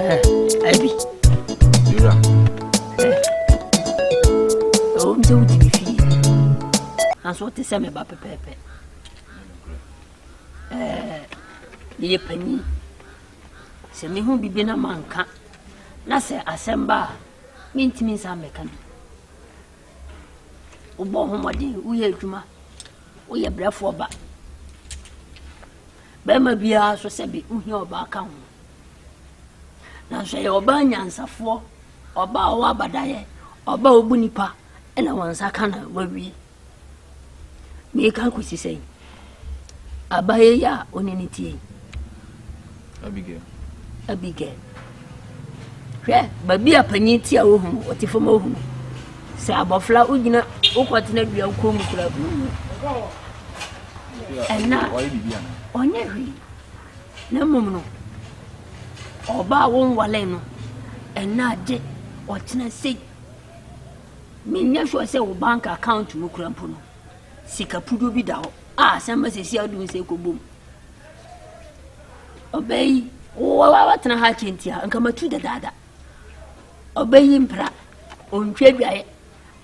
Abi. Yura. Ɛwɔ mu sɛ wodi me fie. Nanso wote sɛ me ba pɛpɛɛpɛ. Meyɛ panyin. Sɛ mehu bibi na manka na sɛ asɛm ba a mentumi nsa mmɛka bi. Wobɔ ho mmɔden, woyɛ adwuma, woyɛ brɛfoɔ ba. Barima biara nso sɛ bi wohia ɔbaa ka ho. Nanso ɛyɛ ɔbaa nyansafoɔ, ɔbaa ɔwɔ abadaeɛ, ɔbaa ɔbu nipa ɛna wɔn nsa ka na wawie. Meka kɔsi sɛ abayɛ yi a ɔne ne tie. Abigail. Abigail. Hwɛ, baabi a panyin te a ohu no, ɔte fam ohu no. Sɛ abɔfra wogyina wokɔtena dua koro mu kura bi mu. Ɛna ɔnyɛ hwee. Na mmom no, ɔbaa a wonwale no, ɛna agye ɔkyena sei. Menyɛ sure sɛ wo bank account mu kura mpo no, sika puduo bi da hɔ a asɛm ba sɛsi a wode wo nsa kɔbom. Ɔbɛyi watena ha kyɛ nti a nka matu dadaada. Ɔbɛyi mpira, ɔntwi adwaeɛ.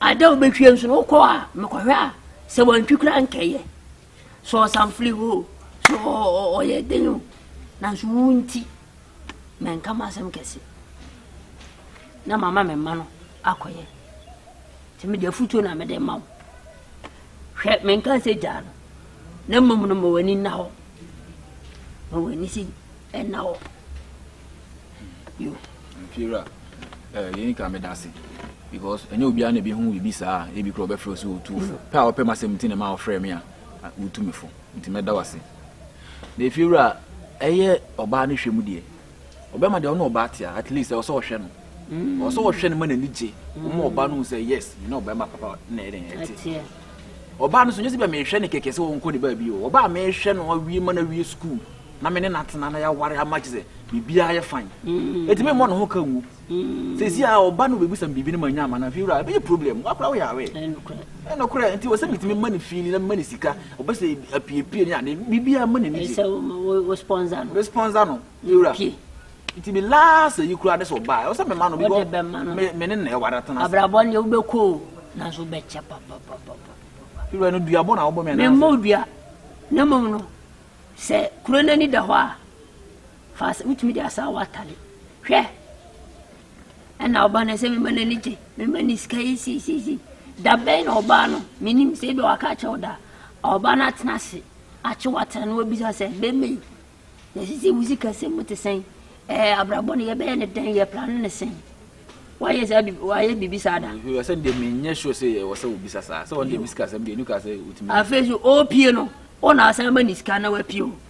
Ada a ɔbɛtwie nso no wokɔ a mekɔhwɛ a sɛ wantwi koraa nkɛyɛ. Sɛ ɔsanfili hɔ o, sɛ ɔyɛ den o, nanso wo nti mɛnka m'asɛm kɛse na mama me mma no akɔyɛ. Nti mede afutuo na mede ma wo. Hwɛ menka sɛ gyaa no na mmom no ma w'ani nna hɔ. Ma w'ani si ɛna hɔ. Yo. Mfiewura, eh, yɛn kra meda ase because ɛnyɛ obiara na ebi ho biribi saa a ebi kura ɔbɛfrɛ wo sɛ otuufo pɛ a ɔpɛ m'asɛm nti na ma ɔfrɛ me a wotu me fo nti mɛda wo ase na efiewura ɛyɛ ɔbaa no hwɛ mu deɛ ɔbɛma deɛ ɔne ɔbaa tea at least ɛwɔ sɛ ɔhwɛ no ɔwɔ sɛ ɔhwɛ no ma n'ani gye ɔma ɔbaa no hu sɛ yes ne ɔbɛma papa na ɛyɛ dɛn ɛte ɔbaa no so nyɛ sɛ bɛ mehwɛ no kɛkɛ sɛ ɔnkɔ ne baabi o ɔbaa mehwɛ no awie ma no awie sukuu na me ne natena na yɛaware ama gye sɛ biribiara yɛ fine ɛtumi mmɔ ne ho ka ngu Sɛsi a ɔba no bɛbisa me biribi no mannya ama no afei wura ɛbɛyɛ problem woakora woyɛ aware ɛyɛ nokorɛ nti wɔ sɛ metumi ma no fiili na mema no sika ɔbɛ sɛ apiepie ne ade biribiaa ma n'ani gye responsa no fei wura nti me last ayi koraa ne sɛ ɔbaa ɛwɔ sɛ mema no bikɔ me ne na ɛware atena abrabɔ ne wobɛkɔ nanso wobɛkyɛ papapapapa fei wura no duabɔ na wobɔ me anaasɛ memmɔ dua na mmom no sɛ kuro no ani da hɔ a Fa asa, wotumi de asa awɔ atade. Hwɛ! Ɛna ɔbaa no sɛ mema no ani gye, mema no sika yi sisisi. Da bɛn na ɔbaa no? Menim sɛ ebi waka akyerɛ wo da. Ɔbaa no atena ase, akye watena na wabisa sɛ, bɛma yi, yɛsisi wo sika sɛ mu te sɛn? Ɛɛ, abrabɔ no yɛbɛyɛ ne dɛn? Yɛ plan ne sɛn? Wayɛ saa bi, wayɛ biribi saa da. Sɛ deɛ menyɛ sure sɛ ɛwɔ sɛ wobisa saa, sɛ ɔno deɛ me sika asɛm deɛ ɛnu ka sɛ wotumi. Afei so, ɔpie no, ɔna asan ma ne sika na wapie o.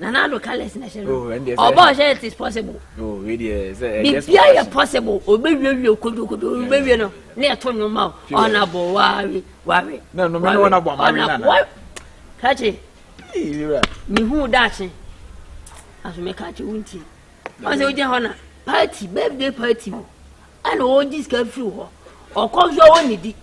nana ado careless na ɛhyɛ no ɔbɔ ɔhyɛ it is possible bibia yɛ possible obewie kodokodo obewie no ne ɛto nnwom ma o ɔnabɔ wawe wawe ɔnabɔ wawe kakye mehu daakye asome kakye wontie ɔsɛ wogyina hɔ na party birthday party o. ɛna ɔgye sika firi hɔ ɔkɔ nso ɔwɔ ne di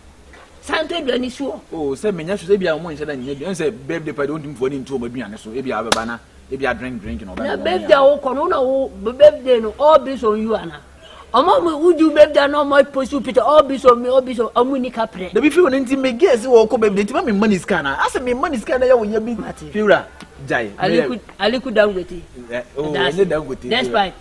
san tɔ aduane si hɔ. o oh, sɛ menya so sɛ ebia wɔn nhyɛ da nyɛ aduane sɛ birthday party wɔn tumfoɔ ne ntu wɔn aduane so ebia abɛba na ebia drink drink na ɔbɛn wɔn. na birthday a wokɔ no na wo birthday no all based on you ana ɔmo ɔmo wodu birthday na ɔmo apost wo picture all based on me all based on ɔmo ni kaprɛ. dabi fiwura nti mi gay si wɔkɔ birthday nti ma mi ma ni sika na asɛ mi ma ni sika na yɛ wɔ yɛ bi fiwura gyae. aliku aliku dangote. ɛ o ɛnyɛ dangote. despite.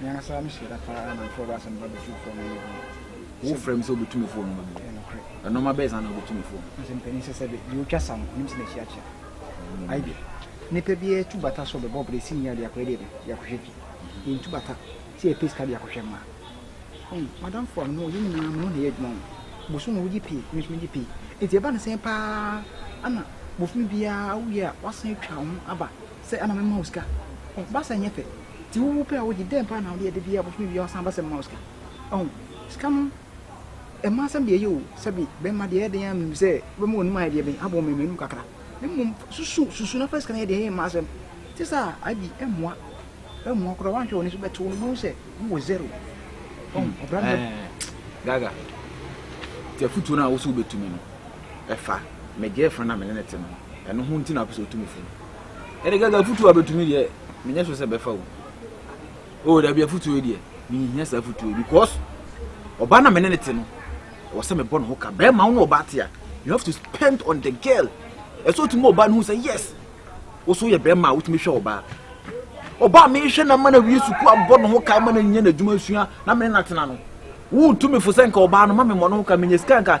Me ankasa me hyɛ da paa na mfrɛ w'asɛm ba bɛtumi fo no yɛ bi. Wo frɛ me sɛ wobɛtumi fo no bi. Ɛnɔma bɛyɛ saa na wobɛtumi fo. Sɛ mpanin sɛ sɛ deɛ ɔtwa sa no ɔnim sɛ n'akyi akyea. Ayi nipa bi atu bata sɛ ɔbɛbɔ bere si nyia de akɔyɛ deɛ de akɔhwɛ bi. Yɛntu bata sɛ yɛpɛ sika de akɔhwɛ mmaa. Hmm, madam fo a mene ɔyɛ nyinaa mene ɔna yɛ adwuma ho. Bosom wogye pii, me nso megye pii. Nti ɛba no sɛn paa ana bofumi biara woyɛ a wasan atwa ho aba sɛ ama mema wo sika. Ɔba sɛ nyɛ pɛ. Nti wo wo pɛ a wogye dɛn paa na wode yɛ de bia ɔbɛfom awie a ɔsan ba sɛ mema wo sika ɔho sika no ɛma asɛm deɛ ɛyɛ o sɛbi bɛma deɛ ɛyɛ den a menim sɛ wobɛma w'anim ayɛ deɛ bɛn abɔ mmɛmɛ anim kakra na mmom susu susu na fa sika no yɛ deɛ ɛyɛ mma asɛm te sɛ a abi ɛmmoa ɛmmoa koraa wanhwɛ w'ani so bɛto no bohu sɛ wowɔ zero ɔho hmm. ɔbra no eh, gaga nti afotuo no a wo so wobɛtumi no ɛfa megyɛɛfo no na mene ne te no ɛno ho nti na wopɛ sɛ wotumi fo no Ɛne kɛkɛ afutuo a bɛtumi deɛ menyɛ so sɛ bɛfa wo o dabi afutuo deɛ menhia saa afutuo because ɔbaa na mene ne te no ɛwɔ sɛ mebɔ ne ho ka bɛrima wo ne ɔbaa te a you have to spend on the girl ɛsɛ ɔtumi ma ɔbaa no hu sɛ yes wo so yɛ bɛrima a wotumi hwɛ ɔbaa ɔbaa mehwɛ na ma no awie sukuu abɔ ne ho ka ma no nya n'adwuma sua na mene no atena no wotumi fo sɛ nka ɔbaa no ma me mmɔ ne ho ka menyɛ sika nka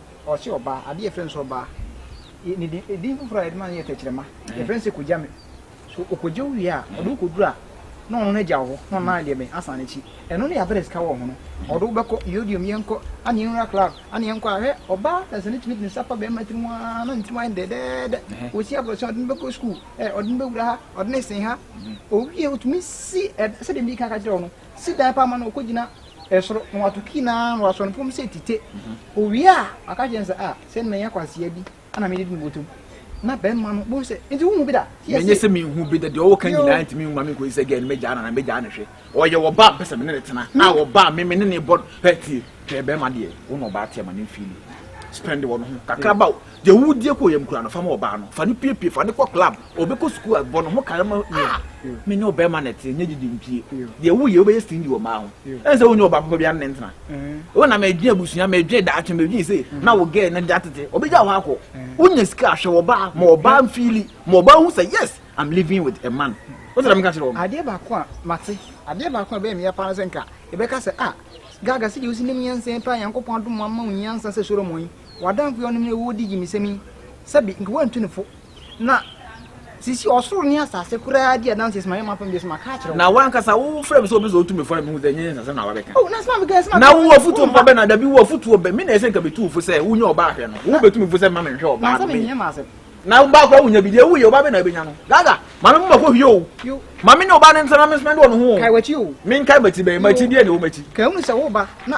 Ɔse ɔbaa, adeɛ yɛfrɛ no sɛ ɔbaa, ne din, edin foforɔ a yɛde ma no yɛ tɛkyerɛma, yɛfrɛ no sɛ kogyame. So ɔkɔgye wo wie a, ɔde wo kɔduru a, na ɔno no agya wo hɔ, na ɔno na deɛ bɛn, asan n'akyi. Ɛno ne yɛabrɛ sika wɔ ho no, ɔde wo bɛkɔ, yodium, yɛnkɔ, ane yɛnwura club, ane yɛnkɔ a, hwɛ, ɔbaa na sɛ no tumi de ne nsa fa bɛɛma tiri mu aa, na ne tiri mu ayɛ no dɛɛdɛɛdɛ, ɔsi abrɔsan, ɔde no bɛkɔ school, ɛ, ɔde no bɛwura ha, ɔde no sen ha, ɔwie a, ɔtumi si, ɛ, sɛdeɛ medii kan ka kyerɛɛ wo no, Si dan pa ma no, ɔkɔgyina soro, na wato kii no ara na wasɔ no fam sɛ tite. Ɔwie a, waka kyerɛ no sɛ, Ah, sɛ na ɛyɛ kwasea bi na medidi me bɔtɔ mu. Na barima no bohu sɛ, Nti wohu bi da? Tie ase. Ɛnyɛ sɛ menhu bi da, deɛ ɔwɔ ka nyinaa ntumi mma menkɔyi sɛ gɛɛ no mɛgyaa no anaa mɛgyaa no hwɛ. Ɔyɛ ɔbaa a mpɛ sɛ me ne no tena, a ɔbaa a me me ne no bɔ. Hwɛ tie, hwɛ barima deɛ, wo na ɔbaa te ama ne mfeeli spend wɔ no ho kakraba o. Deɛ wo die kɔ yɛm kura no fama ɔbaa no fa no piepie fa no kɔ club ɔbɛkɔ sukuu a bɔ no ho kara ma ah me ne ɔbɛrima na ɛteɛ nyɛ gyegye mpie deɛ wo yɛ wobɛyɛ stingy wɔ mmaa ho ɛne sɛ wonyɛ ɔbaa papa bia ne ntena wo na medwen abusua medwen daakye medwen sei na wo gɛɛ no de atete ɔbɛgya hɔ akɔ wonya sika ahwɛ wɔ baa ma ɔbaa mfili ma ɔbaa hu sɛ yes I'm living with a man wosɛ dɛ meka kyerɛ wɔ adeɛ baako a mate adeɛ baako a ɛbɛyɛ meya paa no sɛ nka ɛbɛka sɛ ah gaga sɛ deɛ wosi nim nyansa paa nyankopɔn adom ama wo nyansa sɛ Solomon yi W'adamfo yinom na wodi gyimisɛm yi sɛ bi, nka woantu no fo. Na sisi ɔsoro ne asase koraa di adanse sɛ mayɛ m'apam bio sɛ maka akyerɛ wo. Na w'ankasa wofrɛ me sɛ obi sɛ otu me fo na mihu sɛ ɛnyɛ yɛn nsasɛm na wabɛka. Oh, na sɛ mabɛka yɛ sɛ mabɛka. Na wowɔ afotuo mpa bɛ na da bi wowɔ afotuo bɛ. Me na ɛsɛ nka metu wo fo sɛ wonya ɔbaa ahwɛ no. Wobetu me fo sɛ mma menhwɛ ɔbaa no. Nansɛ menyɛ m'asɛm. Na ɔbaa koraa wonya bi deɛ woyɛ ɔbaa bɛ na wobɛnya no. Gaga, ma me moma kɔ hwie o. Ma me ne ɔbaa no ntena na me nspɛnde wɔ ne ho o. Kae w'akyi o. Menkae m'akyi bɛn? M'akyi deɛ na ɛwɔ m'akyi. Kae hunu sɛ woreba na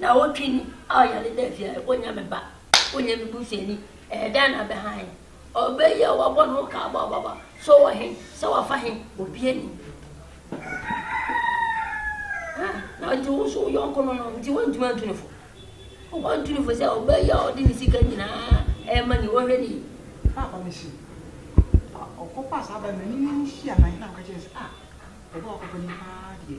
Naawɔtwe ni a ɔyɛ ade da fie a, ɛkɔ nya me ba, ɛkɔ nya me busuani. Ɛyɛ dɛn na bɛ hann? Ɔbɛ yi a wabɔ ne ho kaa bɔ ababa, sɛ ɔwɔ he, sɛ wafa he, obia nim. Ah, na nti wo nso wo yɔnko no no, nti woantumi antu ne fo. Woantu ne fo sɛ ɔbɛ yi a ɔde ne sika nyinaa ɛma ni, wɔhwɛ ne yi. Paapa me se, ɔkɔ pa saa bɛ no, n'ani no nhyia na he na ɔka kyerɛ sɛ, ah, ɔbɛ a ɔkɔ pa ni paa deɛ.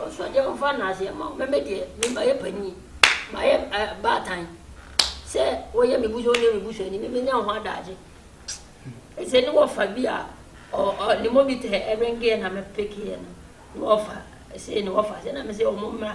Ɔsoro deɛ ɔmfa nnaseɛ mma wo, mɛmɛ deɛ me mayɛ panin, mayɛ eh, baatan. Sɛ woyɛ me busuo ne me busuani, me menya ho adagye. Ɛsɛ ne wɔfa bi a ne mɔmita ɛrengeɛ na mɛpekeɛ no, ne wɔfa, ɛsɛ ne wɔfa, sɛ na me sɛ wɔn mmra,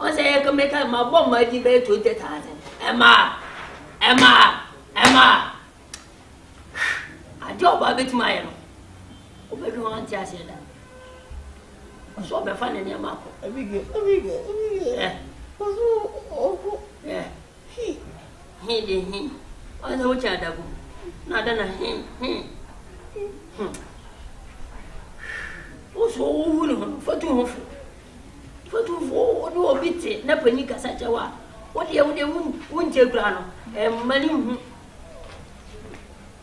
Ɔsɛ yɛ kɛmɛka ɛma bɔ mmaa di bɛyɛ twenty thousand ɛma ɛma ɛma ade a ɔbaa bɛtumi ayɛ no ɔbɛdwe ho ante aseɛ da ɔsɛ ɔbɛfa ne nneɛma akɔ ɛbigɛ ɛbigɛ ɛbigɛ ɛ ɔsɛ ɔkɔ ɛ He, he de he, ɔyɛ sɛ wokyɛ adagu na adɛn na he, he, he. Wo so wohu ne ho no, fa tu ho fo. Fa tu fo, wo ne obi te na panyin kasa kyɛ wo a, wo deɛ wo deɛ wonkyɛ kura no, ɛmma ne hu.